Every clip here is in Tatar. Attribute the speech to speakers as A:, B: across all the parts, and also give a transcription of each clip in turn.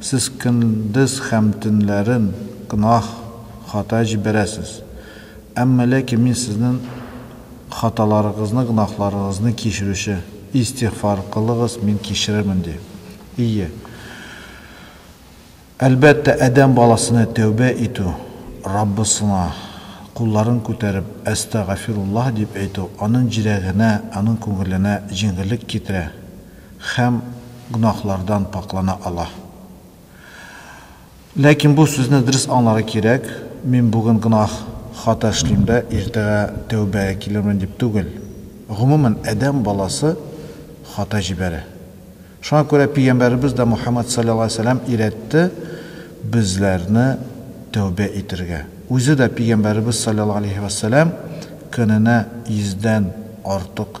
A: Сез көндез һәм төнләрен гөнаһ, хата җибәрәсез. Әмма ләкин Мин сезнен хаталарыгызны, гөнаһларыгызны кичерүче. Истигъфар кылыгыз, Мин кичерермен, ди. Ие. Әлбәттә, адәм баласына тәүбә итү, Раббысына кулларын күтәреп, Әстәгафируллаһ дип әйтү, аның җирәгенә, аның күңеленә җиңеллек китерә. Һәм гөнаһлардан пакьлана ала. Ләкин бу сүзне дөрес аңларга кирәк, мин бүген гөнаһ, хата эшлим дә, иртәгә тәүбәгә килермен дип түгел. Гомумән, адәм баласы хата җибәрә. Шуңа күрә пигамбәребез дә Мухаммәд салләллаһу галәйһи ва сәлләм өйрәтте безләрне тәүбә итергә. Үзе дә пигамбәребез салләллаһу галәйһи ва сәлләм көненә йөздән артык.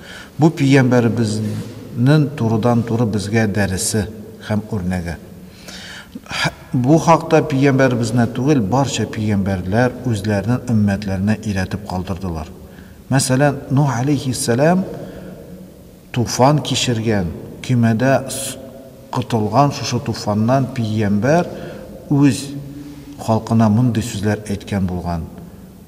A: Бу Пигамбәребезнен турыдан-туры безгә дәресе һәм үрнәге. Һә бу хакта Пигамбәребезенә түгел, барча Пигамбәрләр үзләренен өммәтләренә өйрәтеп калдырдылар. Мәсәлән, Нух алейһиссәлам туфан кичергән, көймәдә котылган шушы туфаннан Пигамбәр үз халкына мондый сүзләр әйткән булган,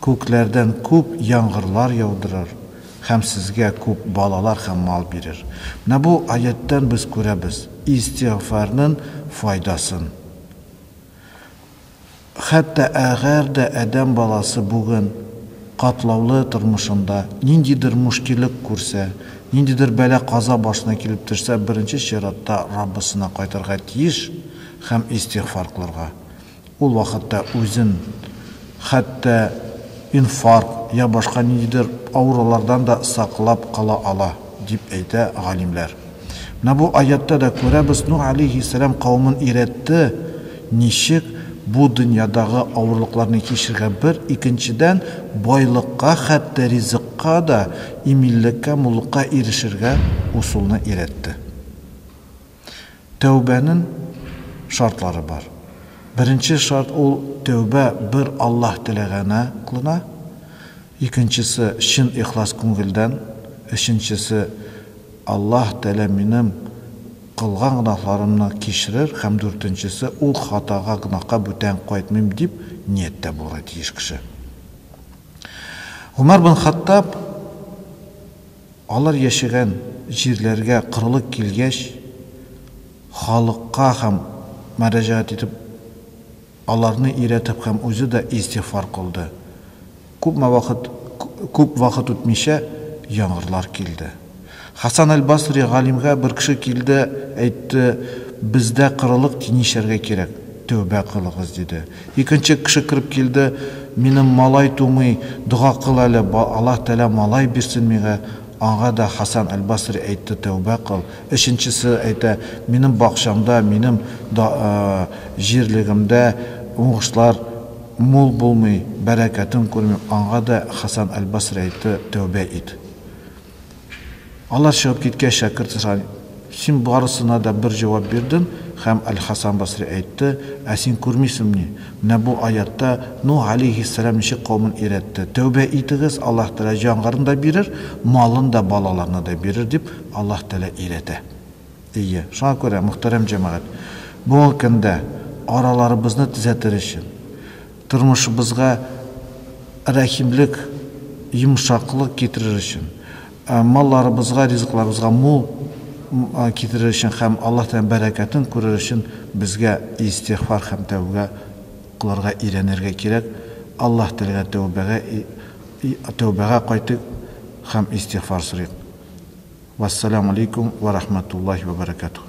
A: Күкләрдән күп яңгырлар яудырыр һәм сезгә күп балалар һәм мал бирер. Менә бу аятьтән без күрәбез истигъфарнын файдасын. Хәтта әгәр дә адәм баласы бүген катлаулы тормышында ниндидер мушкилек күрсә, ниндидер бәла-каза башына килеп төшсә, беренче чиратта Раббысына кайтырга тиеш һәм истигъфар кылырга. Ул вакытта үзен хәтта инфаркт я башка ниндидер авырулардан да саклап кала ала, дип әйтә галимләр. Менә бу аятьтә дә күрәбез, Нух алейһиссәлам кавемен өйрәтте, ничек бу дөньядагы авырлыкларны кичергә бер, икенчедән, байлыкка, хәтта ризыкка да, иминлеккә, муллыкка ирешергә усулны өйрәтте. Тәүбәнен шартлары бар. Беренче шарт ул тәүбә бер Аллаһ теләгәнә клына, икенчесе чын ихлас күңелдән, өченчесе Аллаһ тәлә минем кылган гөнаһларымны кичрер һәм дүртенчесе ул хатага гөнаһка бүтән кайтмыйм дип нияттә булырга тиеш кеше. Гомәр бен Хаттаб. Алар яшәгән җирләргә корылык килгәч, халыкка һәм мөрәҗәгать итеп, аларны өйрәтеп һәм үзе дә истигъфар кылды. Күпме вакыт, күп вакыт үтмичә, яңгырлар килде. Хәсән әл-Басри галимгә бер кеше килде, әйтте, Бездә корылык тинешәргә кирәк, тәүбә кылыгыз, диде. Икенче кеше кереп килде, Минем малай тумый, дога кыл әле, ба, Аллаһ Тәгалә малай бирсен миңа, аңа да Хәсән әл-Басри әйтте, Тәүбә кыл. Өченчесе әйтә, Минем бакчамда, минем да, а, җирлегемдә уңышлар мул булмый, бәрәкәтен күрмим, аңа да Хәсән әл-Басри әйтте, Тәүбә ит. Алар чыгып киткәч, шәкерт сораган, Син барысына да бер җавап бирдең, һәм Әл-Хәсән Басри әйтте, Ә син күрмисеңмени, менә бу аятьтә Нуһ галәйһиссәлам ничек кавемен өйрәтте, Тәүбә итегез, Аллаһ Тәгалә җангарны да бирер, малын да, балаларны да бирер, дип Аллаһ Тәгалә өйрәтә. Әйе, шуңа күрә, мөхтәрәм җәмәгать, бүгенге көндә араларыбызны төзәтер өчен, Тормышыбызга рәхимлек, йомшаклык китерер өчен, малларыбызга, ризыкларыбызга мул китерер өчен һәм Аллаһ Тәгаләнең бәрәкәтен күрер өчен безгә истигъфар һәм тәүбә кылырга өйрәнергә кирәк. Аллаһ Тәгаләгә тәүбәгә тәүбәгә кайтыйк һәм истигъфар сорыйк. Вәссәламү алейкүм вә рахмәтуллаһи вә бәрәкәтүһ.